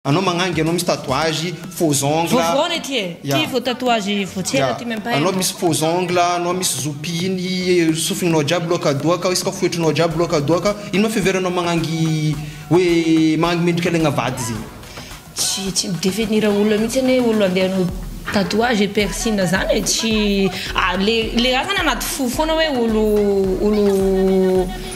Anao magnangy anao misy tatouage faux ongle. Vovoana ity e. Ity vao tatouage vao tsy ela ity mem pas Anao misy faux ongle, anao misy zoupy iny sofinao jiaby loaka doaka, isaka foetrinao jiaby loaka doaka. Ino ma fiheveranao magnangy hoe magnangy mendrika legna vady zegny. Tsy tsy mi definir olona mihitsy anie hoe olona andeha hanao tatouage et piercing zany e. Tsy le le raha zany anaty fo foana hoe olo olo.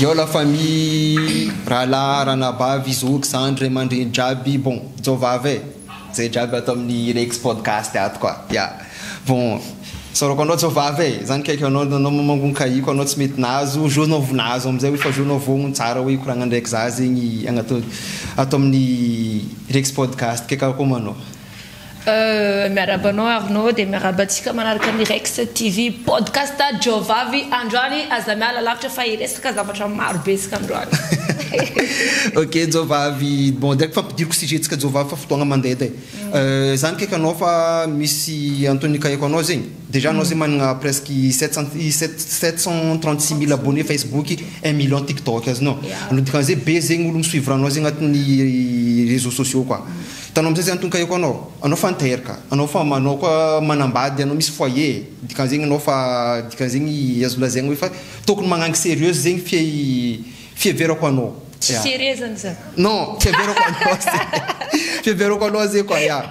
Eo la famille rahalahy ranabavy zoky zandry ray amandreny jiaby bon jovava e zay jiaby ato aminy rex podcast ato koa ya bon soroko anao jovava e za nikaiky anao anao manko nikahiko anao tsy mety nahazo jour nao vo nahazo amizay oe fa jour nao vo ny tsara oe hikoragna ndraiky za zegny ato aminy rex podcast kay karakory ma anao. Miarahaba anao Arnaud dia miarahaba antsika manaraka ny Rex TV podcast Jiaovavy androany aza miala lavitra fa hiresaka zavatra maro be isika androany. Ok Jiaovavy bon dia ampidiriko sujet tsika Jiaovavy fa fotoagna mandeha de za nikaiky anao fa misy antony nikahiko anao zegny dejà anao zegny managna presque sept cent sept cent trente six mille abonné Facebook un million tiktok azonao dikan'izay be zegny olo mi suivre anao zegny agnatin'ny réseaux sociaux koa. Vitanao misesy an'tony kahie ko anao, anao fa nitaery ka, anao fa manao koa manambady anao misy foyer e, dikan'zegny anao fa dikan'zegny azo lazaigny hoe fa tokony magnangy serieuse zegny fia i fiheverako anao, Tsy ya, serieux zany za. non, fiheverako anao ze, fiheverako anao ze quoi ya,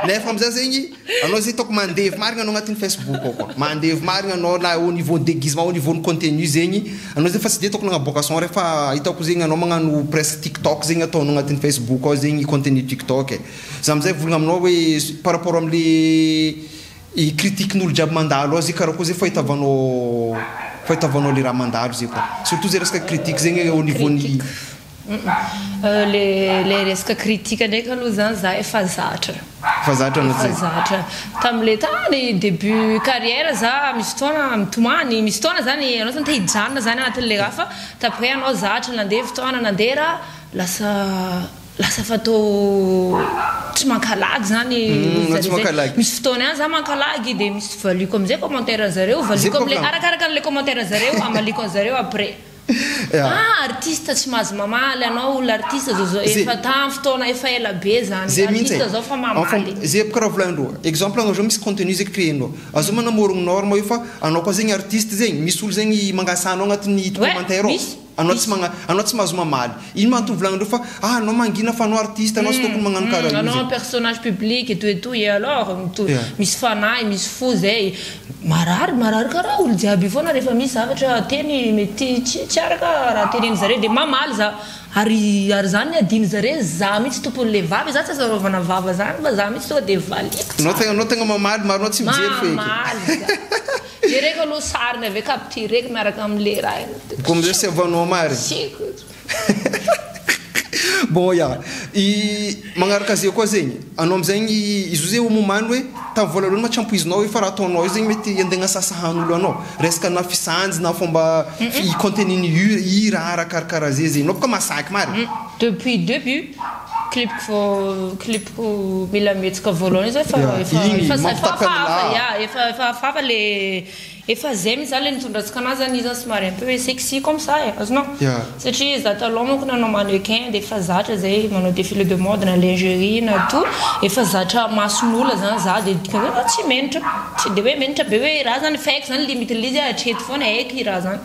nefa amzay zegny. Anao zay hitako mandevy marigna anao agnatin'ny Facebook ao koa. Mandevy marigna anao na au niveau deguisement au niveau ny contenu zegny. Anao zay fa tsy de hitako nagnaboaka son re fa hitako zegny anao magnano presque tiktok zegny ataonao agnatin'ny Facebook ao zegny contenu tiktok e. Za amizay hivolagna aminao hoe par rapport amle critiquen'olo jiaby mandalo ao zay karaha koa zay fahitavanao fahitavanao le raha mandalo zay koa. Surtout zay resaka critique zegny au niveau ny. Ilay resaka critique ndraika aloha izany za efa zatra. Efa zatra anao zay? Efa zatra. Tamin'ilay tany début carrière za misy fotoana mitomany, misy fotoana izany ianao izany te hijanona izany anatin'ilay raha fa tamin'ny hoe ianao zatra, nandeha fotoana, nandeha raha, lasa lasa fatao tsy mankalagy izany izy izay. Misy fotoana ihany za mankalagy dia misy valiako amin'izay commentaire-n'ny zareo, valiako amin'ilay, arakaraka an'ilay commentaire-n'ny zareo, amaliako an'i zareo après. Ah artiste tsy mahazo mamaly anao olona artiste zao zao efa tam fotoana efa ela be zany Zay mihintsy artiste zao fa mamaly e. Zay karaha volagnindreo exemple anao zao misy contenu zay créer-nao azao manamorogno norme io fa anao koa zegny artiste zegny misy olo zegny mangasa anao agnatin'ny Ouais commentaire ao misy anao tsy misy magna anao tsy mahazo mamaly ino ma antony volagnindreo fa ah anao mangina fa anao artiste anao tsy tokony magnano karaha io anao zegny. personnage public et tout et tout et alors mitovi Yeah. misy fanahy misy fo zay. Marary marary karaha olo jiaby io foana rehefa misy zavatra teny mety tsy tsy araka raha tenenin zareo dia mamaly za ary ary zany ny adino zareo za mitsy tompony le vava za tsy azo araovana vava zany fa za mitsy tonga dia valiko Anao tsara tegna anao tegna mamaly maro anao tsy mijery feky. Mamaly za jereko aloha sariny avy eo captureko miaraka amle raha iny Ko amzay sy avano amary. Bon ya, i magnaraka ze koa zegny, anao amizay ny izo ze omomany hoe tam voalohany ma tsy ampoizinao io fa raha ataonao io zegny mety hande agnasasa hany olo anao, resaka na fisanjy na fomba i contenu ny hira ara karakara ze zegny, anao boka masaky mara e. Depuis debut clip-ko vao clip-ko mila mihetsika voalohany io zao efa efa efa hafahafa ya efa efa hafahafa le. Efa zay mihitsy zany le nitondra antsika anah zany izy zany somary un peu hoe sexy comme ça e, azonao? satria za taloha manko nanao mannequin de efa zatra zay manao défilé de mode na lingerie na tout efa zatra mason'ola zany za de dikan'zay za tsy menitra, tsy de hoe menitra be hoe raha zany fa haiko zany limite le izy hatreto foana haiko i raha zany.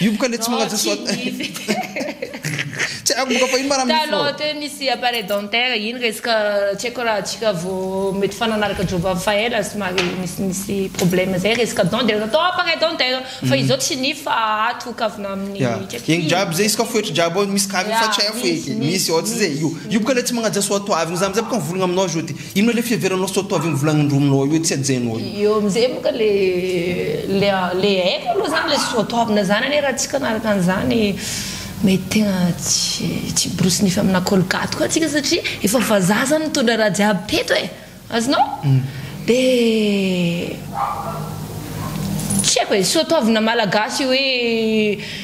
Hiomboka le tsy magnaja soa Tsy haiko moka fa ino ma raha mifoha. Talon teo nisy appareil dentaire iny resaka tsy haiko raha atsika vo mety fa nanaraka job avy fa ela somary nisy nisy problème zay resaka dent de natao appareil dentaire fa izao tsy ny fa ato kavina aminy Ya igny jiaby zay izy ka foetry jiaby ao misy kaviny fa tsy haiko eky misy ôtrizay io hiomboka le tsy magnaja soa toavigny za amizay boka mivolagna aminao zody Inona le fiheveranao sao toa avy amy volagny norominao eo tsy hajainao io. Eo amizay moa ka le le le haiko aloha zany le sao toavina zany anie raha tsy kanaraka anzany mety tegna tsy tsy hiborosy nify amina colgate koa tsika satria efa vazaha zany mitondra raha jiaby teto e azonao de tsy haiko e sao toavina malagasy hoe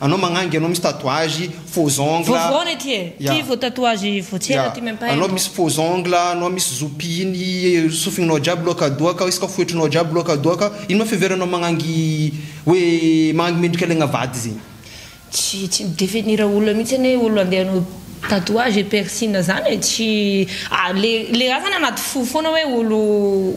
Anao magnangy anao misy tatouage faux ongle a. Vao voaona ity e. Ty vao tatouage vao tsy ela ty mempay anao. Anao misy faux ongle a, anao misy zo pihiny sofinao jiaby loaka doaka, isaka foetrinao jiaby loaka doaka. Ino ma fiheveranao magnangy hoe magnangy mendrika alaigna vady zegny. Tsy tsy mi-definir olona mihitsy anie olo andeha hanao tatouage et piercine zany e. Tsy le le raha zany anaty fo foana hoe olo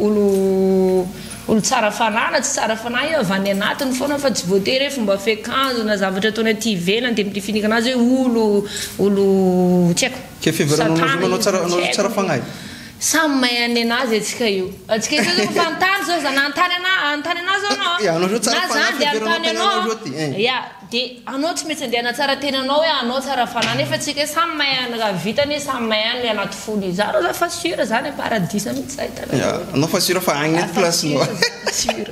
olo Olo tsara fanahy na tsy tsara fanahy io avy any anatiny foana fa tsy voatery hoe fomba fiakanjo na zavatra ataony aty ivelany dia midifinika anazy hoe olo olo tsy haiko Kay fiheveranao anazy hoe manao tsara anao tsy tsara fagnahy? Samy mahay an'ny anazy antsika io. Antsika io zao refa an-tany zao za na an-tany ana- an-tany anah zao anao an, na za andeha an-tany anao an, ya. De anao tsy maintsy andeha hanatsara tenanao hoe anao tsara fanahy nefa tsika samy mahay any raha vita anie samy mahay any ny anaty fony izy zany raha fa sur zany a paradisa mihintsy zany hitanao Ya, daholo anao fa sur fa agny raha eto fa place sur nao zany sur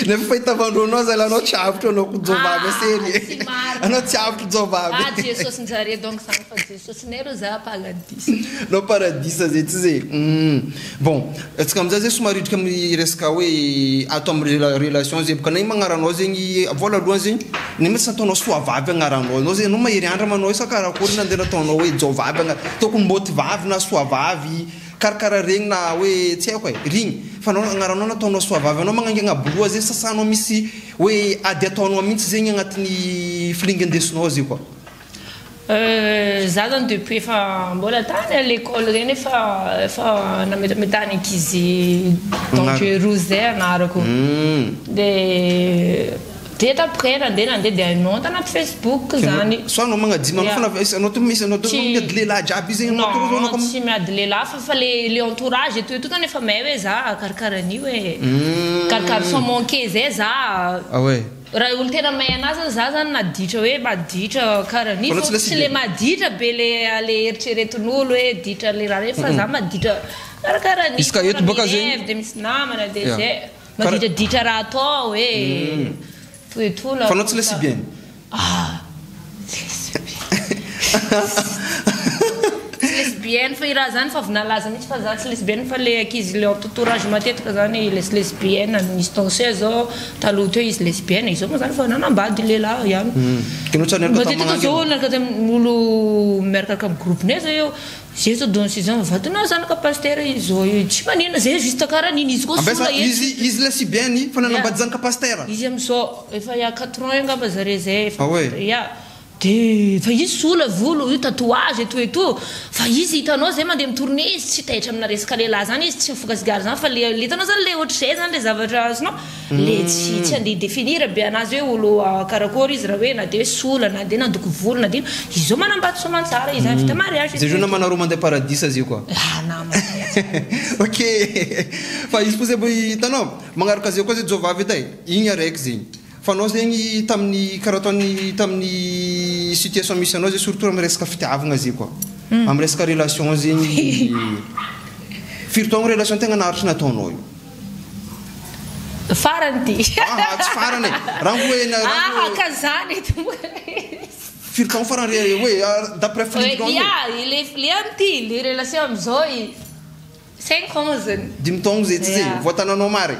Nefa fahitavan-droa anao zalahy anao tsy avotro anao ko jobabe Ah, serie tsy marina Anao tsy avotro jobabe Ah Jesosy njare donc zany fa Jesosy. Sosonay ro za paradisa. Nao paradisa zay tsy zay humm. Bon antsika amizay zay somary hidrika amin'ny resaka hoe ato amin'ny relation zay boka na i magnaranao zegny vola aloha zegny na mety tsy nataonao soa vavy agnaranao anao zay anao mahery andra ma anao sa karakôry na de nataonao hoe jao vavy ana tokony mbôty vavy na soa vavy karakara regny na hoe tsy aiko e regny fa anao agnaranao nataonao soa vavy anao magnaingagna boloha zay sasanao misy hoe ady ataonao mintsy zegny agnatin'ny filingan-desonao zay koa. Za zany depuis efa mbola tany a l'école reny efa efa nametameta ny ankizy dangereuses zay anarako de de après nandeha nandeha de hainao tanaty facebook zany soit anao magnadino anao fana izy anao to izy anao to tsy miady lehilahy jiaby izy zegny anao to non tsy miady lehilahy fa fa le le entourage etoa etoa zany efa may hoe za karakara an'io e karakara sans manquer zay za ah ouais. Raha olo tena mahay anazy zany za zany naditra hoe maditra kara anio fa tsy le maditra be le le eritreretinolo hoe ditra le raha reny fa za maditra karakara anio izy ka eto boka zegny mirev de misy namana de zay maditra ditra raha atao hoe toetoana fa anao tsy le si bien ah. Tsy lesbienne fa i ra zany fa avy nalaza mitsy fa za tsy lesbienne fa le ankizy le entotourage matetika zany les lesbiennes any misy danseuses zao taloha teo izy lesbienne izao moa zany fa nanambady lehilahy ihany, matetika zao miaraka miaraka am groupe-nay zao eo. Zay to don six ans vato nao zanaka pasitera izy zao io tsy manina zay juste kara nini izy koa sola etsy izy izy le sy be ny fananambady zanaka pasitera izy amizao efa ya quatre ans eo ngamba zare zay efa ya de fa izy sola volo io tatouage etoa etoa fa izy hitanao zay mande mitourne izy tsy taitra amina resaka lehilahy zany izy tsy mifoka sigara zany fa le le hitanao zany le ohatrizay zany le zavatra azonao Le tsy tsy andeha hi-definir be anazy hoe olo karakory izy raha hoe na dia hoe sola na dia nandoko volo na dia inona. Izao manambady soamantsara izy vita mariage izy. Zay jour namana roa mandeha paradisa zay koa. Ah namana zay aza. Ok fa izy koa zay mba hitanao magnaraka zay koa zay jovavy ita e igny araiky zegny fa anao zegny tamin'ny karaha ataon'ny tamin'ny situation misy anao zay surtout amin'ny resaka fitiavagna zay koa amin'ny resaka relation zegny firy taogno relation tegna naharitry nataonao io? Farany ty. Aha, tsy farany e. Raha hoe na raha hoe. Aha, ka zany e ty moa izy. Firy taon farany re hoe d'après firindrana hoe. Ia, le le an ty, le relation amizao i cinq ans zany. Dimy taogno zay tsy zay? Voatananao maro e.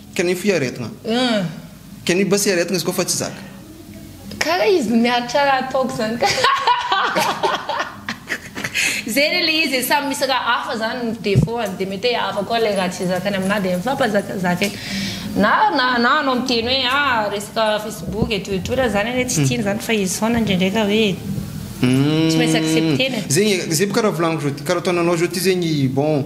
Can you fly aretina? Can you bus aretina izy koa fa tsy zaka. Kara izy no miaritra raha ataoko zany kara zegny ilay izy e samy misy raha hafa zany ny defaut-ny de mety hoe hafa koa ilay raha tsy zakany aminah de mifampazakazaka eo na na na anao miteny hoe a resaka facebook etoa etoa raha zany anie tsy tiany zany fa izy foana ndrendraika hoe tsy maintsy accepter-ny e. Zegny e, zay boka raha volaniko zao ty karaha ataonao anao zao ty zegny bon.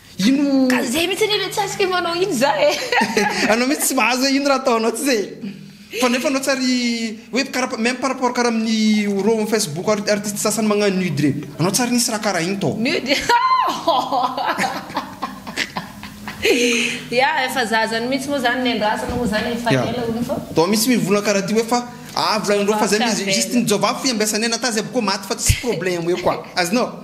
Ino. Ka zay mihitsy anie le tsy azoko hoe manao ino za e. Anao mihitsy tsy mahazo hoe ino raha ataonao tsy zay e. Fa nefa anao tsy ary hoe kara même par rapport kara amin'ny ro am Facebook ary artiste sasany magnano nude reny. Anao tsy ary nisy raha kara iny tao. Nude ya efa za zany mihitsy moa zany nendrasana moa zany efa ela hono fa. Tao misy mivona kara ty hoe fa ah volagnindreo fa zay mihitsy juste ny jovavy f'ihy ambiasanay na ta zay boko maty fa tsisy problème hoe quoi azonao.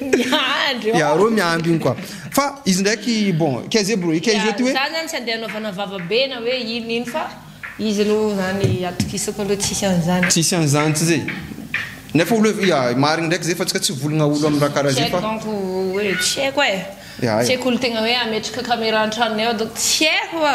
Miandry ô. Iareo miandry iny quoi. Fa izy ndraiky bon kz bro kz ty hoe. Zany zany tsy andeha anaovana vava be na hoe ino ino fa izy aloha zany atokisako aloha tsisy an'zany. Tsisy an'zany tsy zay. Nefa olo hoe ya marigny ndraiky zay fa tsika tsy volagna olo am raha karaha zay fa. Tsy haiko donc hoe tsy haiko e. Tsy haiko olo tegna hoe ametraka camera an-tragnonay ao donc tsy haiko fa.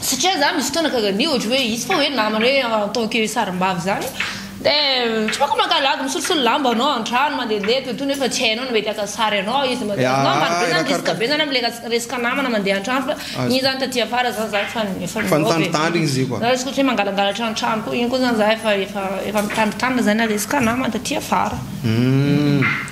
Satria za misy fotoana ka zany ohatra hoe izy fa hoe namana hoe en tant que sarimbavy zany de tsy bôka mankalady misolosolo lamba anao antrano mandehandeha to to nefa tsy hainao ny mety haka sary anao izy mande ah, anao maro be zany risque be zany amle resaka namana mande antrano fa iny zany taty afara zany za efa efa efa nitandritandry izy io na resaka hoe mangalangalatra antrano ko iny ko zany za efa efa efa mitandritandry zany na resaka namana taty afara umm.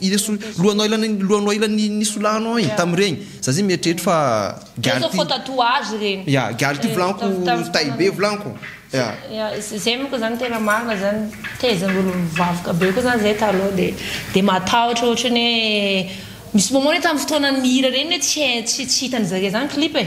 Ireso lohanoailan lohanoailan ny nisolahanao iny tam regny za zay mieritreritra fa Zay zao faux tatouage regny. Ya gary ty volaniko tay be volaniko ya. Ya zay moko zany tena marina zany tezain'ny olo mivavaka be koa zany zay taloha de de matahotra ohatrany hoe misy moment hoe tamin'ny fotoanan'ny hira reny hoe tsy hay tsy tsy hitan'ny zareo zany clip e.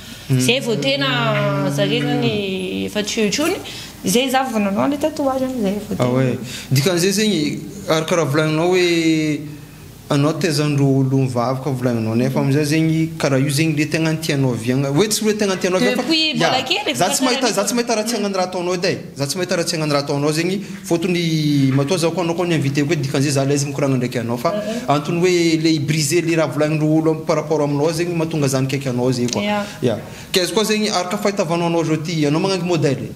Zay vao tena zarena ny efa tsy eo intsony, zay za vao nanao anle tatouage an, zay vao tena. Ah ouais, dikan'izay zegny, ary karaha volagninao hoe anao taiza ndro olo mivavaka fa volagninao nefa amizay zegny karaha io zegny le tegna tianao oviagna, hoe tsy hoe tegna tianao oviagna fa ya, za tsy mahita za tsy mahita raha tsy agnan'ny raha ataonao edy ai. Za tsy mahita raha tsy agnano raha ataonao zegny fotony matoa za ko anao ko ni invite ko dikan'izay za laizy mikoragna ndraiky anao fa antony hoe le i briser le raha volagnin'ireo olo par rapport aminao zegny mahatonga za mikaiky anao zegny koa ya ke izy koa zegny araka fahitavanao anao zao ty anao magnangy modèle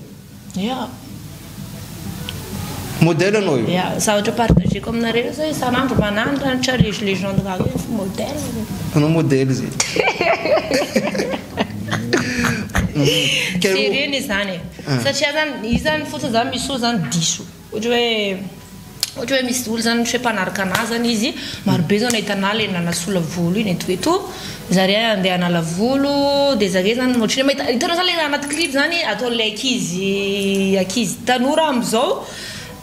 ya modèle anao io ya za ohatra partageko aminareo io zao isan'andro manandratra le legende gaga io efa modèle anao modèle zegny jerena izany e Satria zany izy zany fotsiny zany misy fotoana zany diso ohatra hoe ohatra hoe misy olo zany ohatra hoe mpanaraka anah zany izy maro be zao nahita anah le nanasola volo iny eto eto zare andeha hanala volo de zare zany ohatra hoe mahita hitanao zany le anaty clip zany ataon'le ankizy ankizy tanora amizao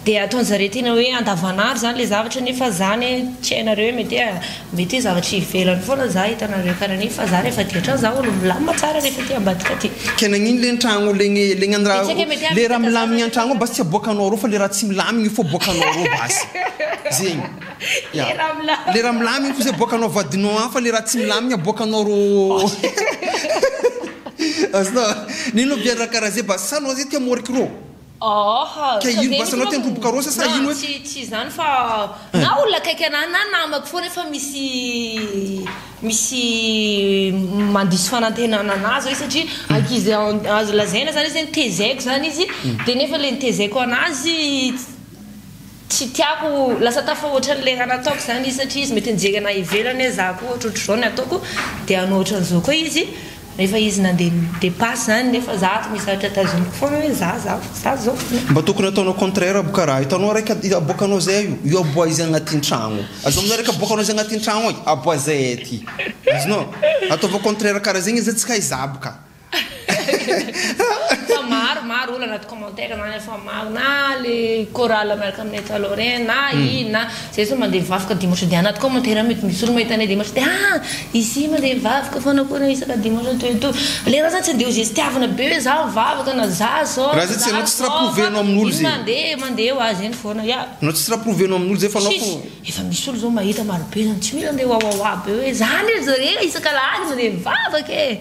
Dia ataony zareo tena hoe andavan'andro zany le zavatra nefa za ne tsy hainareo hoe mety hoe mety hoe zavatra ivelany foana za hitanareo karaha an'iny fa za rehefa aty an-trano za olo milamina tsara rehefa aty ambadika aty. Kay nagnino le an-tragno le gny le gny raha le raha milamigny an-tragno ao basy tsy aboakanao arô fa le raha tsy milamigny fô boakanao arô basy zegny ya le raha milamigny fô zay aboakanao vadinao agny fa le raha tsy milamigny aboakanao arô azonao nino biby raha karaha zay basy sa anao zay te hamôriky rô. Aaha, Ka ino basy anao teny roboka rosa sa ino eto? Tsy izany fa na olona akaiky anah na namako foana efa misy misy mandiso fanantenana anah zao izy satria ankizy azo lazaina zany izy hoe notezaiko zany izy dia nefa ilay notezaiko anazy Tsy tiako ho lasa tafahoatra an'ilay raha nataoko izany izy satria izy mety nijery anah ivelany hoe za koa ohatrohatr'izao ny ataoko dia hanao ohatran'izao koa izy rehefa izy nandeha ni-depasse izany nefa za ato misy zavatra tazomiko foana hoe za za za izao foana. Mba tokony ataonao contraire aby karaha hitanao raika aboakanao zay io io aboa izy agnatin tragno azo aminao raika aboakanao izy agnatin tragno agny aboa zay aty azonao ataovao contraire karaha zegny izy tsy hay za aby ka. Fa maro maro olo anaty commentaire zany efa maro na le chorale miaraka aminay taloha regny na ino na zay zao mande mivavaka dimanche de anaty commentaire mety misy olo mahita anay dimanche de ah izy mande mivavaka fanao akory isaka dimanche anto et tout le raha zany tsy ande ho zestiavina be hoe zaho mivavaka na za zao na za zao fa ino mande mande ho azy eny fona ya anao tsisy raha provenao aminolo zay fanao fo efa misy olo zao mahita maro be zany tsy mila ande wawawa be hoe za ndray zare isaka alahady mande mivavaka e.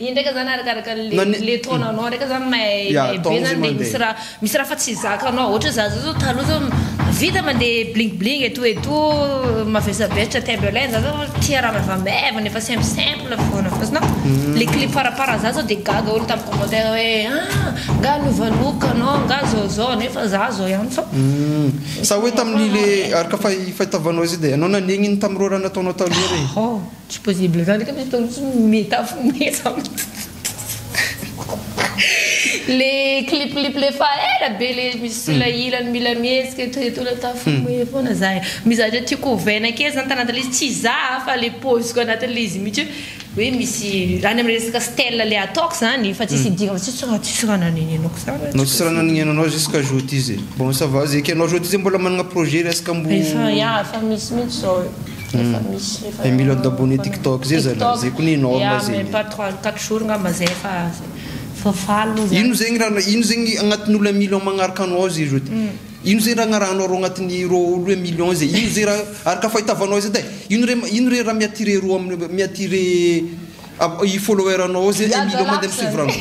Iny ndraika zany arakaraka le taonanao ndraika zany may be zany de misy ra misy ra fa tsy zakanao ohatra za zao taloha zao vita mande bling bling et tout et tout mavesabesatra timberland za zao tia ra maivamaivana efa simple simple fona fosina le clip par par za zao de gaga olo tam commentaire hoe ah nga lova look anao nga zao zao nefa za zao ihany fa sa hoe taminy le araka fahitavanao zay de anao nanegny iny tam roa ra nataonao taloha regny. Tsy possible zany ka misy fotoana tsy meta fogne za le cliplip le fa ela be le misy sila ilany mila mihetsika eto eto la ta fogne fona za e mizatra tiako ovaina kely zany tanaty lay izy tsy za a fa le poziko anaty lay izy mitsy hoe hoe misy any am resaka style le ataoko zany fa tsisy idigna fa tsisy raha tsisy raha nanenenako za raha No tsisy raha nanenenanao jusqu'à joty zay bon ça va zay ekenao joty zay mbola managna projet resaka mbo efa ya efa misy mitsy zao e. efa misy efa Dia mila andabohan'ny tiktok zay zala, tiktok, zay koa ny norme ya zegny. même pas trois quatre jours ngamba zay efa efa faly moa Ino zany zegny raha ino zegny agnatin'ny olo un million magnaraka anao ao zay ro de ino zay raha agnarahanao rô agnatin'ny rô olo hoe million zay ino zay raha araka fahitavanao izy edy e ino re ino re raha mi-attirer rô am mi-attirer a i follower anao ao zay un million mandeha misoeuvre anao.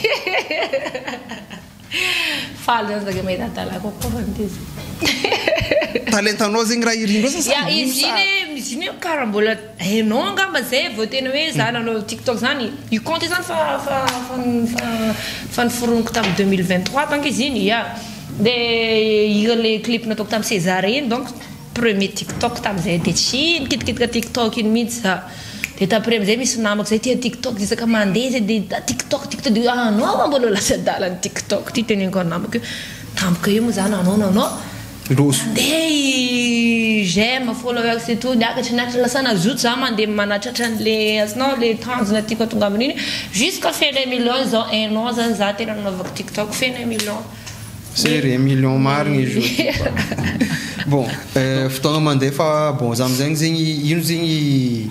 Faly zany zaka mahita adala kokoa fa ny tezitra. Talentanao zegny raha irinao zany sa ino sa. Ya izy iny io kara mbola hainao angamba zay vao tena hoe za nanao tiktok zany io compte io zany fa fa fa fa niforoniko tam deux mille vingt trois donc izy iny ya de hira le clip nataoko tam sezara iny donc. premier tiktok tam zay de tsy nikitikitika tiktok iny mintsy za de tam premy zay misy namako zay tia tiktok de isaka mande zay de da tiktok tiktok de ah anao va mbola lasa adala ny tiktok ty teneniko an namako io tampoka io mo za nanao nanao mande i j'aime followers et tout niakatra niakatra lasa nazoto za mande manatratra an le azonao le tanjona tiako atonga aminy iny jusqu'à fene millions zao un an zany za tena nanaovako tiktok fene millions. Zay re million marigny izy io fa bon fotoagna mandeha fa bon za amizegny zegny ino zegny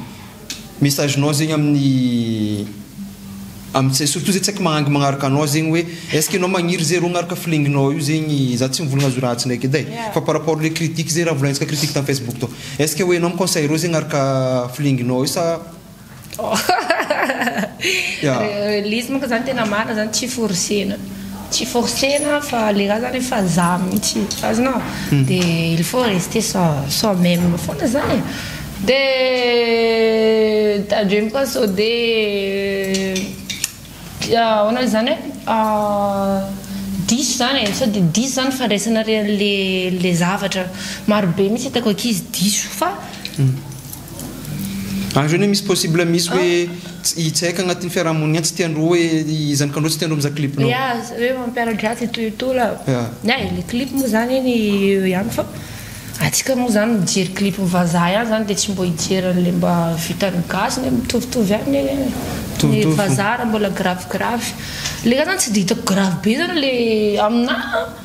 message nao zegny amin'ny amzay surtout zay tsy aiko magnangy magnaraka anao zegny hoe est ce que enao magniry zay ro agnaraka filenginao io zegny za tsy mivolagna azy io ratsy ndraiky edy e fa par rapport le critique zay raha volagnintsika critique tam facebook tô est ce que hoe enao mi conseil reo zay agnaraka filenginao io sa. Ilay izy manko zany tena marina zany tsy forcena, tsy forcena fa le raha zany efa za mintsy azonao de il faut rester soi soi même fona zany e de tadremo koa sode ahoana oe zany hoe diso zany e sao de diso zany fandraisanareo anle le zavatra, maro be mintsy itako akizy diso fa. Any zany hoe misy possible misy hoe i Tsek agnatin'ny fiarahamonina any tsy tiandreo hoe i zanakandreo tsy tiandreo mizaha clip-nao. Ya, hoe mampiara-dratsy ito ito la. Ya. Ya e, le clip moa zany eny eo ihany fa antsika moa zany mijery clip-n'ny vazaha ihany zany dia tsy mba hijery an'ilay mba vitan'ny gasy ne, mitovitovy ihany ne ny Mitovitovy fo. vazaha raha mbola gravigiravy. Le zany tsy dia hitako gravy be zany le aminahy an.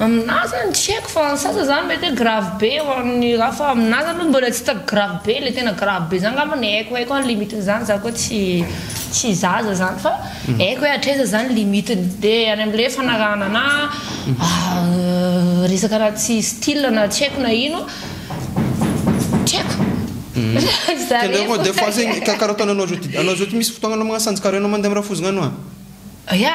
Aminà zany tsy haiko fa ny sasany zany mety hoe grave be ho an'ny ra fa aminà zany mbola tsy hitako grave be le tena grave be zany ngamba ny haiko haiko any limite-ny zany za koa tsy tsy zaza zany fa haiko hoe hatraiza zany limite-ny de any am'le fanarahana na resaka raha tsy style na tsy haiko na ino tsy haiko zareo des fois zegny karaha ataonao zao ty anao zao ty misy fotoagna anao magnasanjy karaha anao mandeha am'rafozy gnano an. Ya.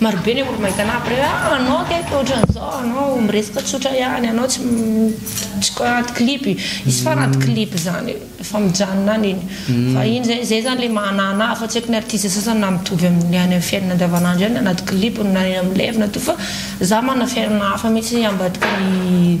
Marobe ny olo-maitana après ah anao kay fa ohatran'izao anao miresaka tsotra ihany anao tsy tsy ko anaty clip hisy foana anaty clip izany efa mijanona any iny fa iny zay zay zany le maha anah anah fa tsy haiko ny artiste sasany na mitovy amin'ny any amin'ny fiainana andavanandro ihany na anaty clip na eny amin'ny live na toa fa za manana fiainana hafa mihitsy ambadika ny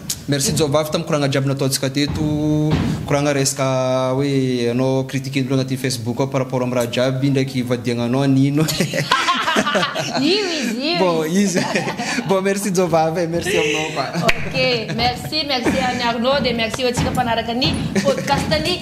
Merci Jaovavy tam koragna jiaby nataontsika teto, koragna resaka hoe anao critiquer ny olona anaty Facebook ao par rapport am raha jiaby indraiky ivadiagnanao anino Io izy io Bon izy. izy bon merci Jaovavy e, merci aminao koa. Ok, merci, merci an'i Arnaud dia merci ho antsika mpanaraka ny podcast-ny.